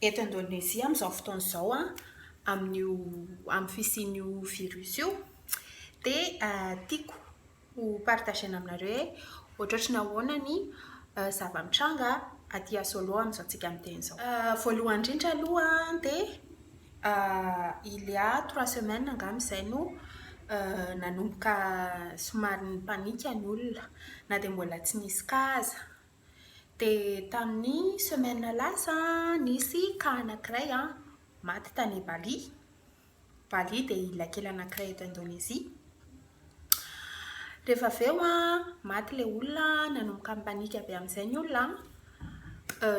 Eto Indonezia amin'izao fotoana izao an, amin'io amin'ny fisian'io virus io dia tiako ho partager-na aminareo hoe ohatrohatry ny ahoana ny zava-mitranga aty à Solo amin'izao antsika miteny izao. Voalohany indrindra aloha dia il y a trois semaines angamba izay no nanomboka somary ni-panique ny olona na dia mbola tsy nisy cas aza. Dia tamin'ny semaine lasa nisy cas anankiray maty tany Bali. Bali dia ilay kely anankiray eto Indonezia. Rehefa avy eo maty ilay olona, nanomboka nipanika be amin'izay ny olona.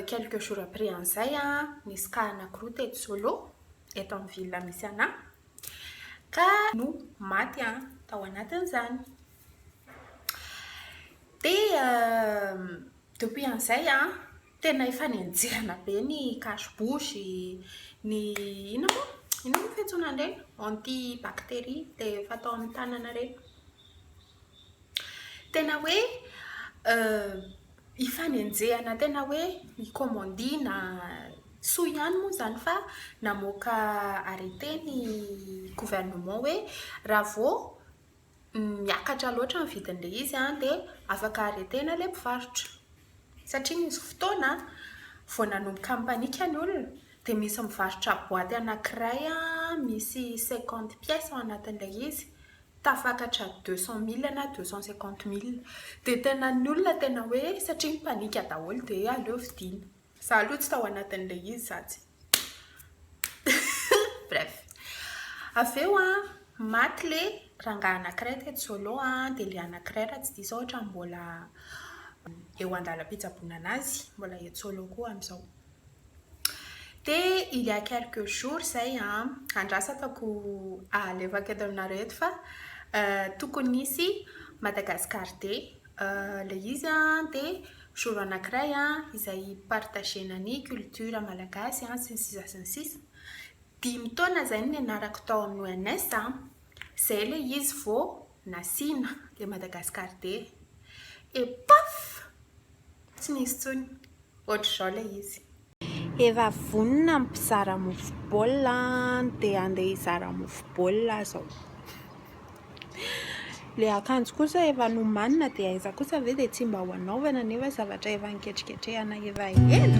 Quelques jours après an'izay nisy cas anankiroa teto Solo, eto amin'ny ville misy an'ahy, ka no maty tao anatin'izany. Dia depuis an'izay an, tena efa nenjehina be ny cache bouche, ny inona moa? Inona moa fiantsoana an'ireny? Anti bacterie dia fatao amin'ny tanana ireny. Tena hoe ifanenjehana tena hoe ikomandiana. Soa ihany moa izany fa namoaka arrêté ny gouvernement hoe raha vao miakatra loatra ny vidin'ilay izy dia afaka aretina ilay mpivarotra. Satria nisy fotoana vao nanomboka nipanika ny olona dia nisy nivarotra boaty anankiray misy cinquante pièces ao anatin'ilay izy, tafakatra deux cent mille na deux cent cinquante mille. Dia tena ny olona tena hoe satria nipanika daholo dia aleo vidiana. Za aloha tsy tao anatin'ilay izy za tsy bref. Avy eo a, maty le rangahy anankiray teto Solo a, dia le anankiray raha tsy diso aho ohatrany mbola eo an-dalam-pitsaboana anazy, mbola eto Solo koa amin'izao. Dia il y a quelques jours zay a, andrasako alefako eto aminareo eto fa tokony hisy Madagascar Day Ilay izy dia jour anankiray izay hi-partager-na ny culture malagasy sy ny sisa sy ny sisa. Dimy taona izay no nianarako tao amin'ny ONS. Izay ilay izy vao nasiana ilay Madagascar Day. Et paf! Tsy nisy intsony. Ohatr'izao ilay izy. Efa vonona ny mpizara mofo baolina dia handeha hizara mofo baolina aza ao. Ilay akanjo kosa efa nomanina dia aiza kosa ve dia tsy mba ho anaovana nefa zavatra efa niketriketrehana efa ela.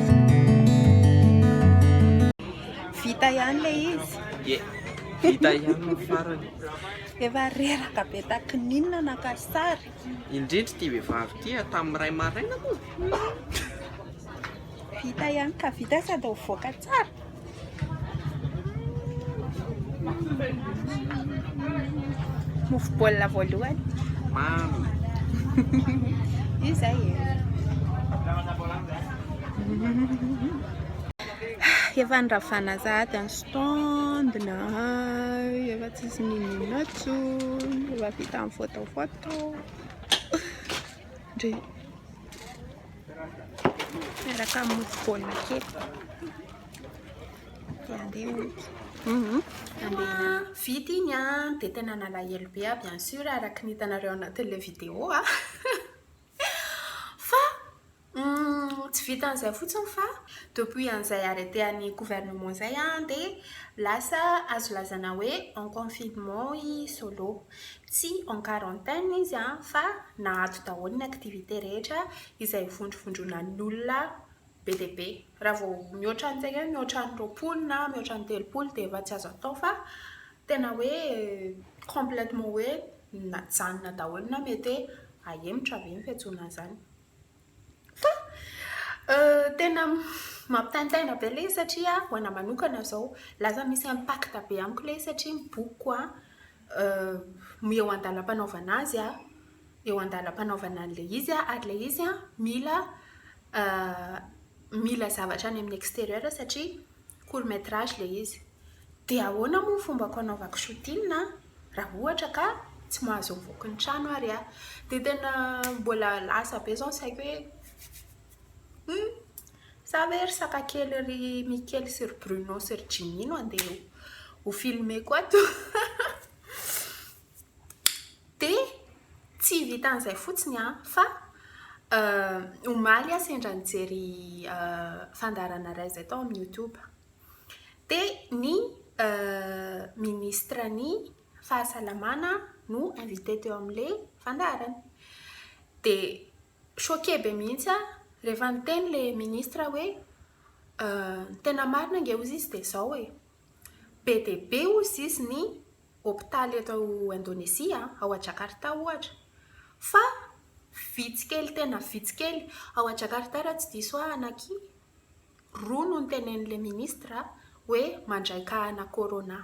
Vita ihany le izy. Ye. Vita ihany ny farany. Efa reraka be taky ninona naka sary. Indrindra ity vehivavy ity tamin'ny ray maraina moa. Vita ihany ka vita sady mivoaka tsara. Mofo baolina voalohany. Mamy. Io zay e. Efa niravana sahady ny stondina. Efa tsisy ninona tsony. Efa vita ny foto foto. Ndry. Miaraka amin'ny mofo baolina kely. Dia andeha ompy. Mhm. Andeha. Vita iny an, dia tena nalahelo be aho bien sûr araka ny hitanareo anatin'ilay vidéo a. Fa hum, tsy vitan'izay fotsiny fa depuis an'izay arrêté an'ny gouvernement izay an, dia lasa azo lazana hoe en confinement i Solo. Tsy en quarantaine izy fa naato daholo ny activités rehetra izay vondrovondronan'olona be dia be. Raha vao mihoatra an'izay hoe mihoatra ny roapolo na mihoatra ny telopolo dia efa tsy azo atao fa tena hoe complètement hoe najanona daholo na mety hoe ahemotra ve ny fiantsoana an'izany. Fa tena mampitaintaina be ilay izy satria ho anahy manokana izao lasa misy impact be amiko ilay izy satria ny bokiko eo an-dalam-panaovana azy aho, eo an-dalam-panaovana an'ilay izy aho ary ilay izy mila mila zavatra any amin'ny extérieur satria court métrage ilay izy. Dia ahoana moa ny fombako hanaovako shooting an, raha ohatra ka tsy mahazo mivoaka ny trano ary aho. Dia tena mbola lasa be izao ny saiko hoe humm, sa ve ry saka kely ry Mikely sy ry Bruno sy ry Jimmy no andeha ho filmer-ko ato? Dia tsy vitan'izay fotsiny an, fa omaly aho sendra nijery fandaharana iray izay tao amin'ny YouTube. Dia ny ministra ny fahasalamana no invité teo amin'ilay fandaharana. Dia choqué be mihitsy aho rehefa niteny ilay ministra hoe ny tena marina ange hozy izy dia izao e, be dia be hozy izy ny hopitaly eto Indonezia, ao Jakarta ohatra, fa vitsy kely tena vitsy kely, ao Jakarta raha tsy diso ahy anaky roa no nitenenin'ilay ministra hoe mandray kahana corona.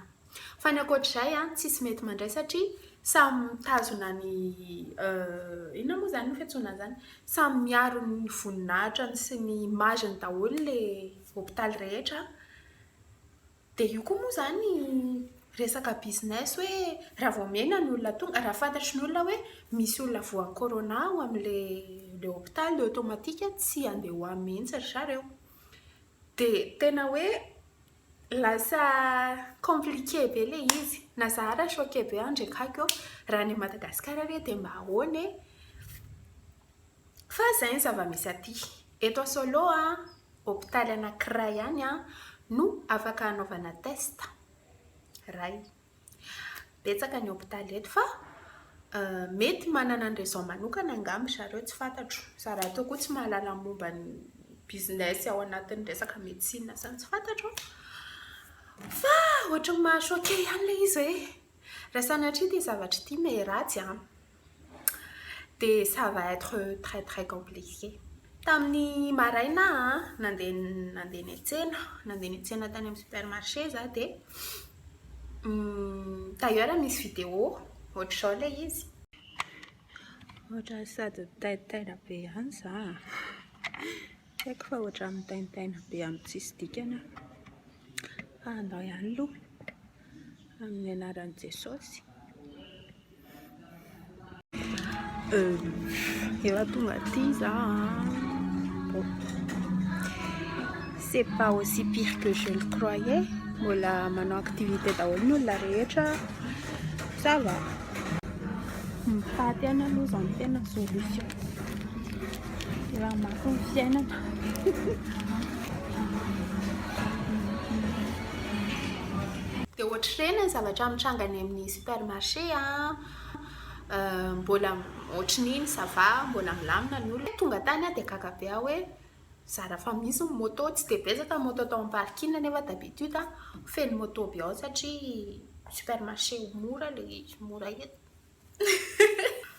Fa ny ankoatr'izay an, tsisy mety mandray satria samy mitazona ny inona moa izany ny fiantsoana an'izany? Samy miaro ny voninahitrany sy ny image-ny daholo ilay hopitaly rehetra. Dia io koa moa izany resaka business hoe raha vao omena ny olona tonga, raha fantatry ny olona hoe misy olona voan'ny corona ao amin'ilay hopitaly dia automatique tsy handeha ho any mihitsy ry zareo. Dia tena hoe lasa compliqué be ilay izy. Na za ary choqué be aho indraiky haiko eo raha any Madagasikara re dia mba ahoana e? Fa izay ny zava-misy aty. Eto a Solo a, hopitaly anankiray ihany a, no afaka hanaovana test. Iray. Betsaka ny hopitaly eto fa mety manana ny raison manokana angamba ry zareo, tsy fantatro. Za rahateo koa tsy mahalala momba ny business ao anatin'ny resaka médecine izany, tsy fantatro. Fa ohatran'ny maha-choqué ihany ilay izy hoe raha sanatria ity zavatra ity me ratsy a, Dia ça va être très très compliqué. Tamin'ny maraina an, nandeha nandeha niantsena, nandeha niantsena tany amin'ny supermarché za dia d'ailleurs misy vidéo ohatr'izao ilay izy. Ohatra sady mitaintaina be ihany za a! Tsy haiko fa ohatra mitaintaina be amin'ny tsisy dikany aho fa andao ihany aloha. Amin'ny anaran'i Jesosy. Efa tonga aty za. Bon. C'est pas aussi pire que je le croyais. Mbola manao activité daholo ny olona rehetra. Ça va. Mipaty ihany aloha zany tena solution. Raha mafy ny fiainana. Dia ohatr'ireny ny zavatra mitranga any amin'ny supermarché a, mbola ohatran'iny ça va, mbola milamina ny olona, tonga tany aho dia gaga be aho hoe zara fa misy ny moto, tsy dia betsaka ny moto tao amin'ny parking nefa d'habitude a feno moto be ao satria supermarché mora ilay izy, mora eto.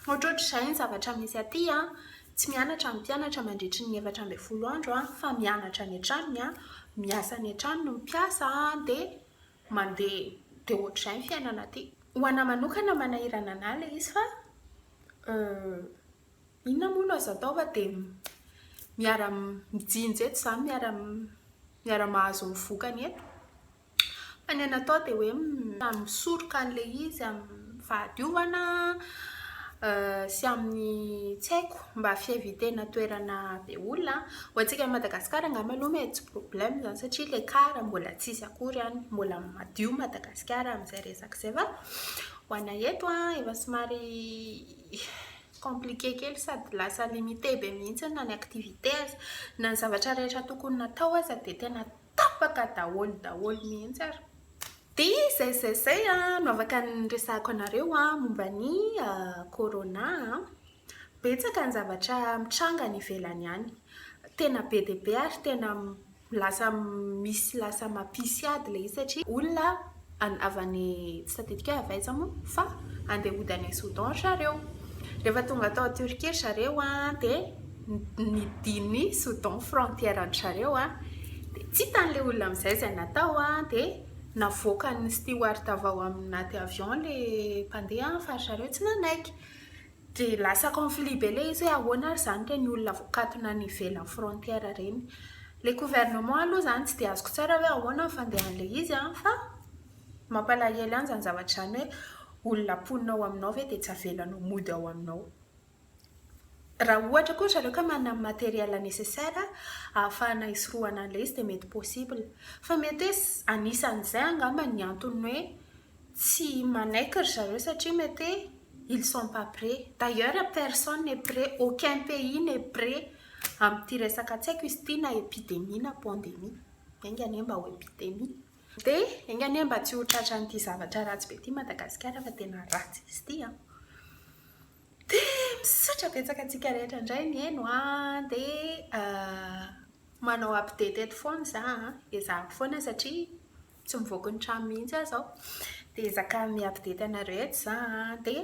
Ohatrohatr'izay ny zavatra misy aty an! Tsy mianatra ny mpianatra mandritry ny efatra ambin'ny folo andro an! Fa mianatra any an-tranony an! Miasa any an-tranony ny mpiasa an! Dia mandeha, dia ohatr'izay ny fiainana aty. Ho anà manokana manahirana anà ilay izy fa inona moa no azo atao fa dia miara mijinja eto izany, miara miara mahazo ny vokany eto. Fa ny natao dia hoe misoroka an'ilay izy amin'ny fahadiovana sy amin'ny tsy haiko mba fi-eviter-na toerana be olona. Ho antsika Madagasikara angamba aloha mety tsy problème izany satria ilay car mbola tsy hisy akory any. Mbola madio Madagasikara amin'izay resaka izay fa ho anay eto efa somary compliqué kely sady lasa limité be mihitsy na ny activité aza. Na ny zavatra rehetra tokony natao aza dia tena tapaka daholo daholo mihitsy ary. Dia izay izay izay no afaka niresahako anareo momba ny Corona. Betsaka ny zavatra mitranga any ivelany any. Tena be dia be ary tena lasa misy lasa mampisy ady ilay izy satria olona any avy any tsy tadidiko avy aiza moa fa andeha hody any Soudan ry zareo rehefa tonga tao Turquie ry zareo an dia nidiny Soudan frontière an-dry zareo an dia tsy hitan'ilay olona amin'izay izay natao an dia navoakan'ny steward avy ao anaty avion ilay mpandeha fa ry zareo tsy nanaiky Dia lasa conflit be le izy hoe ahoana ary zany le ny olona voakatona any ivelan'ny frontière reny. Le gouvernement aloha zany tsy dia azoko tsara hoe ahoana ny fandehan'le izy an, fa mampalahelo ihany zany zavatra zany hoe olona mponina ao aminao ve dia tsy avelanao mody ao aminao. Raha ohatra koa ry zareo ka manana ny matériel nécessaire ahafahana hisorohana an'le izy dia mety possible. Fa mety hoe anisan'izay angamba ny antony hoe Tsy manaiky ry zareo satria mety hoe ils sont pas prêt. D'ailleurs personne n'est prêt, aucun pays n'est prêt amin'ity resaka tsy haiko izy ity na epidemie na pandemie. Enga anie mba ho epidemie. Dia enga anie mba tsy ho tratran'ity zavatra ratsy be ity Madagasikara fa tena ratsy izy ity an! Dia misaotra betsaka antsika rehetra indray nihaino an! Dia manao update eto foana izaho an! Ezahako foana satria tsy mivoaka ny trano mihitsy aho izao dia ezaka mi-update anareo eto za dia